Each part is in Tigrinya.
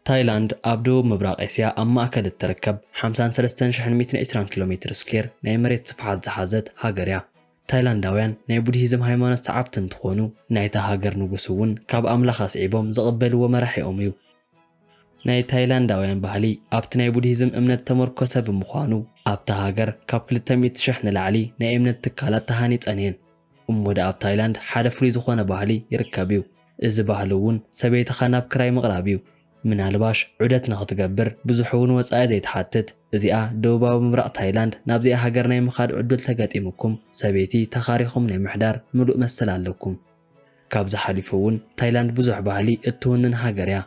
ታይላንድ ኣብ ደቡብ ምብራቕ ኤስያ ኣብ ማእከል እትርከብ 53,120 ኪሎ ሜትር ስኲየር ናይ መሬት ስፍሓት ዝሓዘት ሃገር እያ። ታይላንዳውያን ናይ ቡድሂዝም ሃይማኖት ሰዓብቲ እንትዀኑ፣ ናይታ ሃገር ንጉስ እውን ካብ ኣምላኽ ኣስዒቦም ዝቕበልዎ መራሒኦም እዩ። ናይ ታይላንዳውያን ባህሊ ኣብቲ ናይ ቡድሂዝም እምነት እተመርኰሰ ብምዃኑ፣ ኣብታ ሃገር ካብ ክልተ ሚእቲ ሽሕ ንላዕሊ ናይ እምነት ትካላት ተሃኒጸን እየን። እሞ ደኣ ኣብ ታይላንድ ሓደ ፍሉይ ዝዀነ ባህሊ ይርከብ እዩ። እዚ ባህሊ እውን ሰበይትኻ ናብ ክራይ ምቕራብ እዩ። ምናልባሽ ዑደት ንኽትገብር ብዙሕ እውን ወጻኢ ዘይትሓትት እዚኣ ደቡባዊ ምብራቕ ታይላንድ ናብዚኣ ሃገር ናይ ምኻድ ዕዱል ተገጢሙኩም ሰበይቲ ተኻሪኹም ናይ ምሕዳር ምሉእ መሰል ኣለኩም። ካብዚ ሓሊፉ እውን ታይላንድ ብዙሕ ባህሊ እትውንን ሃገር እያ።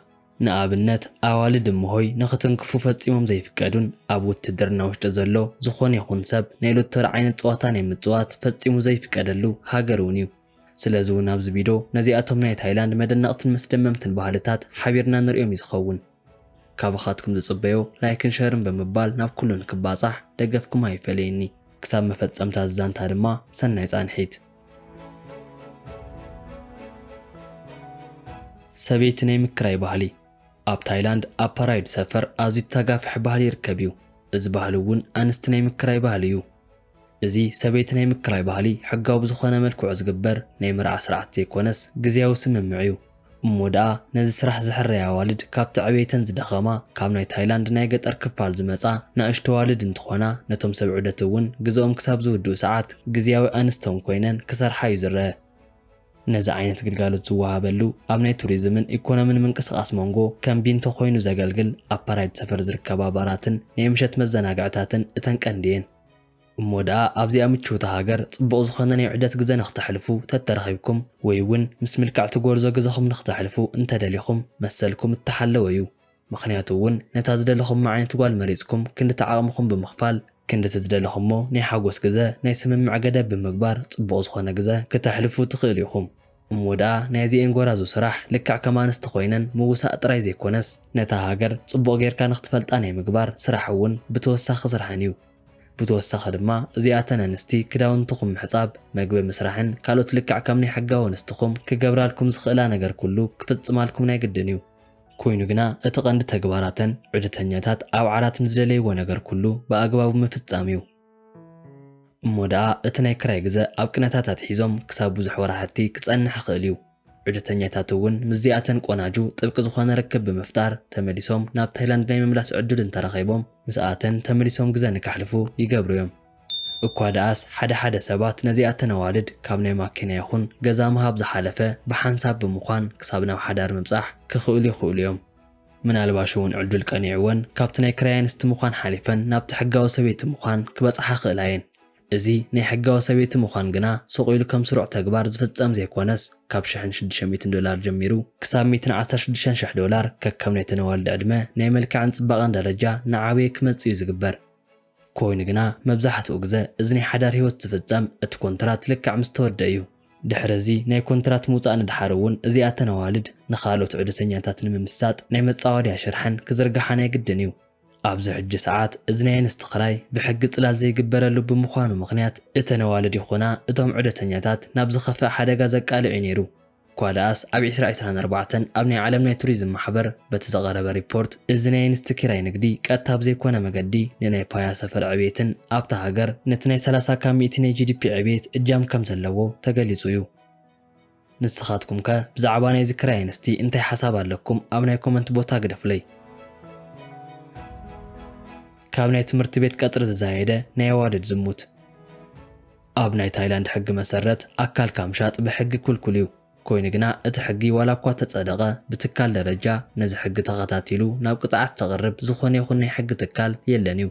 ንኣብነት ኣዋልድ እምሆይ ንኽትንክፉ ፈጺሞም ዘይፍቀዱን ኣብ ውትድርና ውሽጢ ዘሎ ዝኾነ ይኹን ሰብ ናይ ሎተሪ ዓይነት ጸዋታ ናይ ምጽዋት ፈጺሙ ዘይፍቀደሉ ሃገር እውን እዩ። ስለዚ እውን ኣብዚ ቪዶ ነዚኣቶም ናይ ታይላንድ መደነቕትን መስደመምትን ባህልታት ሓቢርና ንርእዮም እዩ ዝኸውን። ካባኻትኩም ዝጽበዮ ላይክን ሸርን ብምባል ናብ ኩሉ ንክባጻሕ ደገፍኩም ኣይፈለየኒ። ክሳብ መፈጸምታ እዚ ዛንታ ድማ ሰናይ ጻንሒት። ሰበይቲ ናይ ምክራይ ባህሊ። ኣብ ታይላንድ ኣብ ፓራይድ ሰፈር ኣዝዩ ተታጋፍሒ ባህሊ ይርከብ እዩ። እዚ ባህሊ እውን ኣንስቲ ናይ ምክራይ ባህሊ እዩ። እዚ ሰበይቲ ናይ ምክራይ ባህሊ ሕጋዊ ብዝኾነ መልክዑ ዝግበር ናይ መርዓ ስርዓት ዘይኮነስ ግዝያዊ ስምምዕ እዩ። እሞ ደኣ ነዚ ስራሕ ዝሕረያ ኣዋልድ ካብቲ ዕብየተን ዝደኸማ ካብ ናይ ታይላንድ ናይ ገጠር ክፋል ዝመጻ ናእሽቱ ኣዋልድ እንትኾና ነቶም ሰብ ዑደት እውን ግዘኦም ክሳብ ዝውድኡ ሰዓት ግዝያዊ ኣንስቶም ኮይነን ክሰርሓ እዩ ዝረኣ። ነዚ ዓይነት ግልጋሎት ዝወሃበሉ ኣብ ናይ ቱሪዝምን ኢኮኖምን ምንቅስቓስ ሞንጎ ከም ቢንቶ ኮይኑ ዘገልግል ኣብ ፓራይድ ሰፈር ዝርከባ ባራትን ናይ ምሸት መዘናግዕታትን እተን ቀንዲ እየን። እሞ ደኣ ኣብዚኣ ምችውቲ ሃገር ጽቡቕ ዝኾነ ናይ ዑደት ግዘ ንክተሕልፉ ተተረኺብኩም ወይ እውን ምስ ምልክዕቲ ጎርዞ ግዘኹም ንክተሕልፉ እንተደሊኹም መሰልኩም እተሓለወ እዩ። ምኽንያቱ እውን ነታ ዝደለኹማ ዓይነት ጓል መሪጽኩም ክንድቲ ዓቕምኹም ብምኽፋል ክንድቲ ዝደለኹሞ ናይ ሓጎስ ግዘ ናይ ስምምዕ ገደብ ብምግባር ጽቡቕ ዝኾነ ግዘ ክተሕልፉ ትኽእሉ ኢኹም። እሞ ደኣ ናይ እዚኤን ጎራዙ ስራሕ ልክዕ ከም ኣንስቲ ኮይነን ምውሳእ ጥራይ ዘይኮነስ ነታ ሃገር ጽቡቕ ጌርካ ንኽትፈልጣ ናይ ምግባር ስራሕ እውን ብተወሳኺ ስርሐን እዩ። ብተወሳኺ ድማ እዚኣተን ኣንስቲ ክዳውንትኹም ምሕጻብ፣ መግቢ ምስራሕን ካልኦት ልክዕ ከም ናይ ሕጋዊ ኣንስትኹም ክገብራልኩም ዝኽእላ ነገር ኩሉ ክፍጽማልኩም ናይ ግድን እዩ። ኮይኑ ግና እቲ ቀንዲ ተግባራተን ዑደተኛታት ኣብ ዓራት ንዝደለይዎ ነገር ኩሉ ብኣግባቡ ምፍጻም እዩ። እሞ ደኣ እቲ ናይ ክራይ ግዘ ኣብ ቅነታት ኣትሒዞም ክሳብ ብዙሕ ወራሕቲ ክጸንሕ ይኽእል እዩ። ዑደተኛታት እውን ምስዚኣተን ቆናጁ ጥብቂ ዝኾነ ርክብ ብምፍጣር ተመሊሶም ናብ ታይላንድ ናይ ምምላስ ዕዱል እንተረኼቦም ምስኣተን ተመሊሶም ግዘ ንከሕልፉ ይገብሩ እዮም። እኳ ደኣስ ሓደ ሓደ ሰባት ነዚኣተን ኣዋልድ ካብ ናይ ማኪና ይኹን ገዛ ምሃብ ዝሓለፈ ብሓንሳብ ብምኳን ክሳብ ናብ ሓዳር ምብጻሕ ክኽእሉ ይኽእሉ እዮም። ምናልባሽ'ውን ዕዱል ቀኒዕወን ካብቲ ናይ ክራይ ኣንስቲ ምኳን ሓሊፈን ናብቲ ሕጋዊ ሰበይቲ ምኳን ክበጽሓ ክኽእላ እየን። እዚ ናይ ሕጋዊ ሰበይቲ ምኳን ግና ሱቕ ኢሉ ከም ስሩዕ ተግባር ዝፍጸም ዘይኮነስ ካብ ሽሕን ሽዱሽተ ሚእትን ዶላር ጀሚሩ ክሳብ ሚእትን ዓሰርተ ሽዱሽተን ሽሕ ዶላር ከከም ናይተን ኣዋልድ ዕድመ፣ ናይ መልክዕን ጽባቐን ደረጃ እናዓበየ ክመጽእ እዩ ዝግበር። ኮይኑ ግና መብዛሕትኡ ግዘ እዚ ናይ ሓዳር ህይወት ዝፍፀም እቲ ኮንትራት ልክዕ ምስ ተወድእ እዩ። ድሕሪ እዚ ናይ ኮንትራት ምውፃእ ንድሓር እውን እዚኣ እተን ኣዋልድ ንኻልኦት ዑደተኛታት ንምምሳጥ ናይ መፃወድያ ሽርሐን ክዝርግሓ ናይ ግድን እዩ። ኣብዚ ሕጂ ሰዓት እዚ ናይ ኣንስቲ ክራይ ብሕጊ ፅላል ዘይግበረሉ ብምዃኑ ምኽንያት እተን ኣዋልድ ይኹና እቶም ዑደተኛታት ናብ ዝኸፍእ ሓደጋ ዘቃልዕ እዩ ነይሩ። እኳ ደኣስ ኣብ ዕስራ ዕስራን ኣርባዕተን ኣብ ናይ ዓለም ናይ ቱሪዝም ማሕበር በቲ ዝቐረበ ሪፖርት እዚ ናይ ኣንስቲ ኪራይ ንግዲ ቀጥታ ብዘይኮነ መገዲ ንናይ ፓያ ሰፈር ዕብየትን ኣብታ ሃገር ነቲ ናይ ሰላሳ ካብ ሚእቲ ናይ ጂዲፒ ዕብየት እጃም ከምዘለዎ ተገሊፁ እዩ። ንስኻትኩም ከ ብዛዕባ ናይዚ ክራይ ኣንስቲ እንታይ ሓሳብ ኣለኩም ኣብ ናይ ኮመንት ቦታ ግደፉለይ። ካብ ናይ ትምህርቲ ቤት ቀፅሪ ዝዛየደ ናይ ኣዋልድ ዝሙት። ኣብ ናይ ታይላንድ ሕጊ መሰረት ኣካልካ ምሻጥ ብሕጊ ኩልኩል እዩ። ኮይኑ ግና እቲ ሕጊ ዋላ እኳ ተጸደቐ ብትካል ደረጃ ነዚ ሕጊ ተኸታቲሉ ናብ ቅጽዓት ዘቕርብ ዝኾነ ይኹን ናይ ሕጊ ትካል የለን እዩ።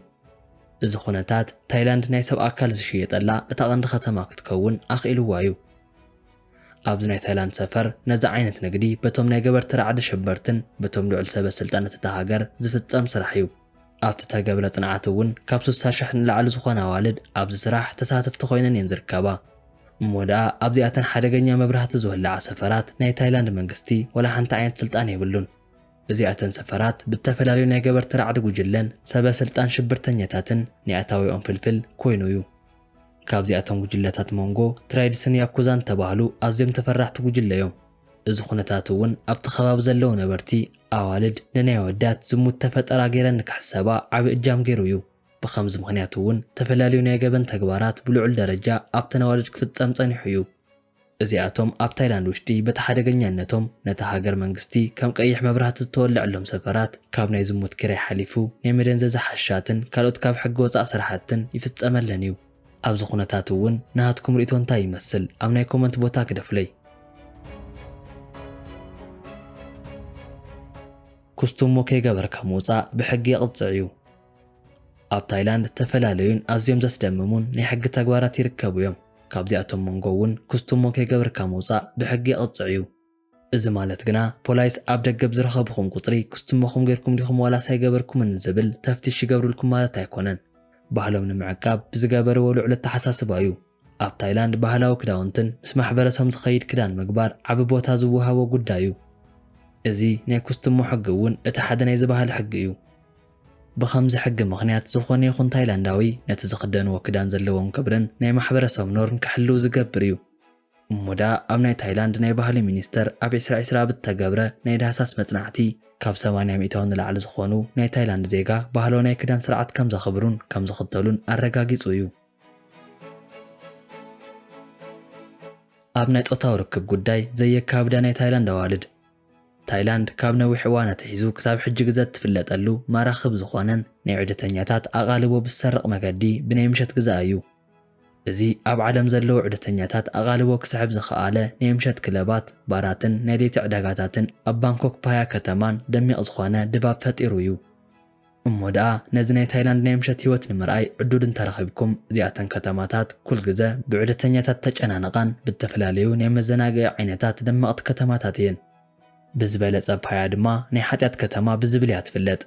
እዚ ኩነታት ታይላንድ ናይ ሰብ ኣካል ዝሽየጠላ እታ ቀንዲ ከተማ ክትከውን ኣኽኢልዋ እዩ። ኣብዚ ናይ ታይላንድ ሰፈር ነዚ ዓይነት ንግዲ በቶም ናይ ገበርቲ ራዕዲ ሸበርትን በቶም ልዑል ሰበ ስልጣነት እታ ሃገር ዝፍጸም ስራሕ እዩ። ኣብቲ እተገብረ ጽንዓት እውን ካብ ስሳ ሽሕ ንላዕሊ ዝኾና ኣዋልድ ኣብዚ ስራሕ ተሳተፍቲ ኮይነን እየን ዝርከባ። እሞ ደኣ ኣብዚኣተን ሓደገኛ መብራህቲ ዝወልዓ ሰፈራት ናይ ታይላንድ መንግስቲ ወላ ሓንቲ ዓይነት ስልጣን የብሉን። እዚኣተን ሰፈራት ብእተፈላለዩ ናይ ገበርቲ ራዕዲ ጉጅለን ሰበ ስልጣን ሽብርተኛታትን ናይ ኣታዊኦም ፍልፍል ኮይኑ እዩ። ካብዚኣቶም ጉጅለታት ሞንጎ፣ ትራይድስን ያኩዛን እተባህሉ ኣዝዮም ተፈራሕቲ ጉጅለ እዮም። እዚ ኩነታት እውን ኣብቲ ከባቢ ዘለዉ ነበርቲ ኣዋልድ ንናይ ኣወዳት ዝሙት ተፈጠራ ገይረን ንክሕሰባ ዓቢ እጃም ገይሩ እዩ። ብኸምዚ ምኽንያት እውን ተፈላልዩ ናይ ገበን ተግባራት ብልዑል ደረጃ ኣብተን ኣዋልድ ክፍጸም ጸኒሑ እዩ። እዚኣቶም ኣብ ታይላንድ ውሽጢ በቲ ሓደገኛነቶም ነታ ሃገር መንግስቲ ከም ቀይሕ መብራህቲ ዝተወለዐሎም ሰፈራት ካብ ናይ ዝሙት ኪራይ ሓሊፉ ናይ መደንዘዚ ሓሽሻትን ካልኦት ካብ ሕጊ ወጻእ ስራሕትን ይፍጸመለን እዩ። ኣብዚ ኩነታት እውን ናሃትኩም ሪኢቶ እንታይ ይመስል ኣብ ናይ ኮመንት ቦታ ግደፉለይ። ኩስቱሞ ከይገበርካ ምውጻእ ብሕጊ የቕጽዕ እዩ። ኣብ ታይላንድ ተፈላለዩን ኣዝዮም ዘስደምሙን ናይ ሕጊ ተግባራት ይርከቡ እዮም። ካብዚኣቶም መንጎ እውን ኩስቱሞ ከይገብርካ ምውጻእ ብሕጊ የቕጽዕ እዩ። እዚ ማለት ግና ፖላይስ ኣብ ደገ ብዝረኸብኹም ቁጽሪ ክስትሞኹም ጌርኩም ዲኹም ዋላስ ኣይገበርኩምን ንዝብል ተፍትሽ ይገብርልኩም ማለት ኣይኮነን። ባህሎም ንምዕቃብ ብዝገበርዎ ልዑል ኣተሓሳስባ እዩ። ኣብ ታይላንድ ባህላዊ ክዳውንትን ምስ ማሕበረሰም ዝኸይድ ክዳን ምግባር ዓቢ ቦታ ዝወሃቦ ጉዳይ እዩ። እዚ ናይ ኩስትሞ ሕጊ እውን እቲ ሓደ ናይዚ ባህሊ ሕጊ እዩ። ብኸምዚ ሕጊ ምኽንያት ዝኾነ ይኹን ታይላንዳዊ ነቲ ዝኽደንዎ ክዳን ዘለዎም ክብርን ናይ ማሕበረሰም ኖርን ክሕልው ዝገብር እዩ። እሞ ደኣ ኣብ ናይ ታይላንድ ናይ ባህሊ ሚኒስተር ኣብ ዕስራ ዕስራ ኣብ እተገብረ ናይ ዳህሳስ መጽናዕቲ፣ ካብ ሰማንያ ሚእታዊ ንላዕሊ ዝኾኑ ናይ ታይላንድ ዜጋ ባህላዊ ናይ ክዳን ስርዓት ከም ዘኽብሩን ከም ዝኽተሉን ኣረጋጊጹ እዩ። ኣብ ናይ ጾታዊ ርክብ ጉዳይ ዘየካብዳ ናይ ታይላንድ ኣዋልድ። ታይላንድ ካብ ነዊሕ እዋን ኣትሒዙ ክሳብ ሕጂ ግዘ እትፍለጠሉ ማራኺ ብዝኾነን ናይ ዑደተኛታት ኣቓልቦ ብዝሰርቕ መገዲ ብናይ ምሸት ግዘኣ እዩ። እዚ ኣብ ዓለም ዘለዉ ዑደተኛታት ኣቓልቦ ክስሕብ ዝኸኣለ ናይ ምሸት ክለባት፣ ባራትን ናይ ለይቲ ዕዳጋታትን ኣብ ባንኮክ ፓያ ከተማን ደሚቕ ዝኾነ ድባብ ፈጢሩ እዩ። እሞ ደኣ ነዚ ናይ ታይላንድ ናይ ምሸት ህይወት ንምርኣይ ዕዱል እንተረኺብኩም እዚኣተን ከተማታት ኩልግዘ ብዑደተኛታት ተጨናንቓን ብእተፈላለዩ ናይ መዘናግዒ ዓይነታት ደመቕቲ ከተማታት እየን። ብዝበለጸ ፓያ ድማ ናይ ሓጢኣት ከተማ ብዝብል እያ ትፍለጥ።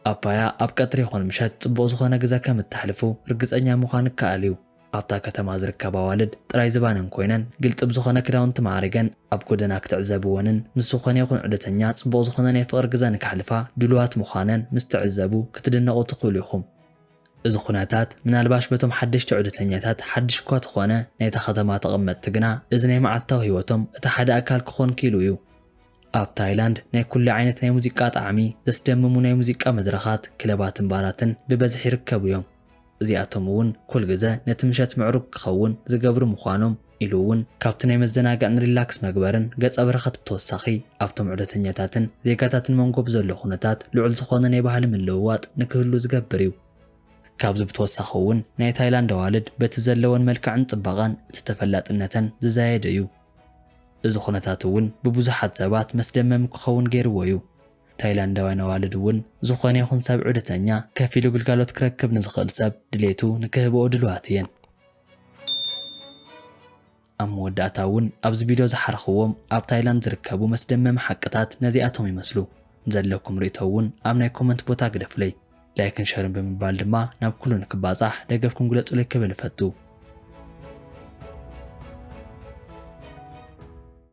ኣባያ ኣብ ቀትሪ ይኹን ምሸት ጽቡቕ ዝኾነ ግዘ ከም እተሕልፉ ርግጸኛ ምዃን ይከኣል እዩ። ኣብታ ከተማ ዝርከባ ኣዋልድ ጥራይ ዝባነን ኮይነን ግልጺ ብዝኾነ ክዳውንቲ ማዕሪገን ኣብ ጎደና ክትዕዘብወንን ምስ ዝኾነ ይኹን ዑደተኛ ጽቡቕ ዝኾነ ናይ ፍቕሪ ግዘ ንከሕልፋ ድሉዋት ምዃነን ምስ ትዕዘቡ ክትድነቑ ትኽእሉ ኢኹም። እዚ ኩነታት ምናልባሽ በቶም ሓደሽቲ ዑደተኛታት ሓድሽ እኳ ተኾነ፣ ናይታ ከተማ ተቐመጥቲ ግና እዚ ናይ መዓልታዊ ህይወቶም እቲ ሓደ ኣካል ክኾን ክኢሉ እዩ። ኣብ ታይላንድ ናይ ኩሉ ዓይነት ናይ ሙዚቃ ጣዕሚ ዘስደምሙ ናይ ሙዚቃ መድረኻት፣ ክለባትን ባራትን ብበዝሒ ይርከቡ እዮም። እዚኣቶም እውን ኩልግዘ ነቲ ምሸት ምዕሩግ ክኸውን ዝገብሩ ምዃኖም፣ ኢሉ እውን ካብቲ ናይ መዘናግዕን ሪላክስ መግበርን ገፀ በረከት ብተወሳኺ ኣብቶም ዑደተኛታትን ዜጋታትን መንጎ ብዘሎ ኩነታት ልዑል ዝኾነ ናይ ባህሊ ምልውዋጥ ንክህሉ ዝገብር እዩ። ካብዚ ብተወሳኺ እውን ናይ ታይላንድ ኣዋልድ በቲ ዘለወን መልክዕን ፅባቐን እቲ ተፈላጥነተን ዝዛየደ እዩ። እዚ ኩነታት እውን ብብዙሓት ሰባት መስደመሚ ክኸውን ገይርዎ እዩ። ታይላንዳውያን ኣዋልድ እውን ዝኾነ ይኹን ሰብ ዑደተኛ ከፊሉ ግልጋሎት ክረክብ ንዝኽእል ሰብ ድሌቱ ንክህብኦ ድሉዋት እየን። ኣብ መወዳእታ እውን ኣብዚ ቪድዮ ዝሓረኽዎም ኣብ ታይላንድ ዝርከቡ መስደመሚ ሓቅታት ነዚኣቶም ይመስሉ። ንዘለኩም ርእይቶ እውን ኣብ ናይ ኮመንት ቦታ ግደፉለይ። ላይክን ሸርን ብምባል ድማ ናብ ኩሉ ንክባጻሕ ደገፍኩም ግለጹለይ ክብል እፈቱ።